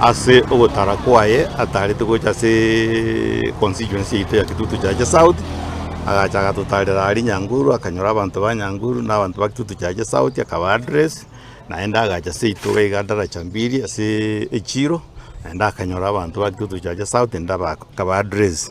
Ase ogotara kwaye ataarete gocha ase constituency yaito ya Kitutu Chache South, agacha agatotarera aria Nyanguru, akanyora abanto ba Nyanguru na abanto ba Kitutu Chache South akaba address, naende agacha ase yaito iga iga Ndaracha Mbiri ase echiro, naende akanyora abanto ba Kitutu Chache South naende akaba address.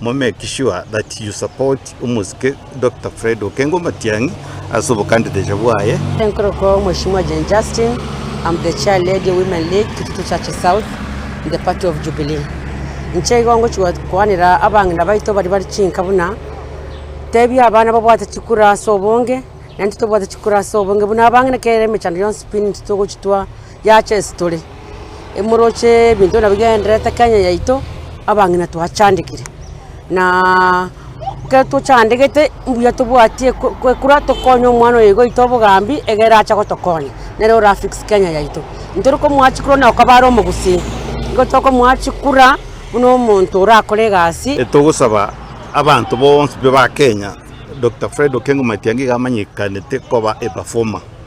Mo make sure that you support omosike Doctor Fred Okengo Matiang'i ase obokandideti bwaye. Enkorokoo Mheshimiwa Jane Justin, am the chair lady women league Kitutu church south in the party of Jubilee. Inche igo ngochigwa koanera abang'ina baito baria bari chinka buna tebia abana babwate chikura ase obonge naintwe tobwate chikura ase obonge buna abang'ina kera emechando yonsi pi naintwe togochitwa Yacha ase tore, emoroche ebinto nabio bigendererete Kenya yaito, abang'ina twachandekire naaaa ekero tochandegete mbuya tobwatie ko kwekura tokonye omwana oyo igoito obogambi egere ache gotokonya nere ora fix Kenya yaito. Intore komoa chikura onye okobare omogusii, igo tokomoa chikura buna omonto orakore egasi. Togosaba abanto bonsi ba Kenya Doctor Fred Okengo Matiang'i iga amanyekanete koba a performer.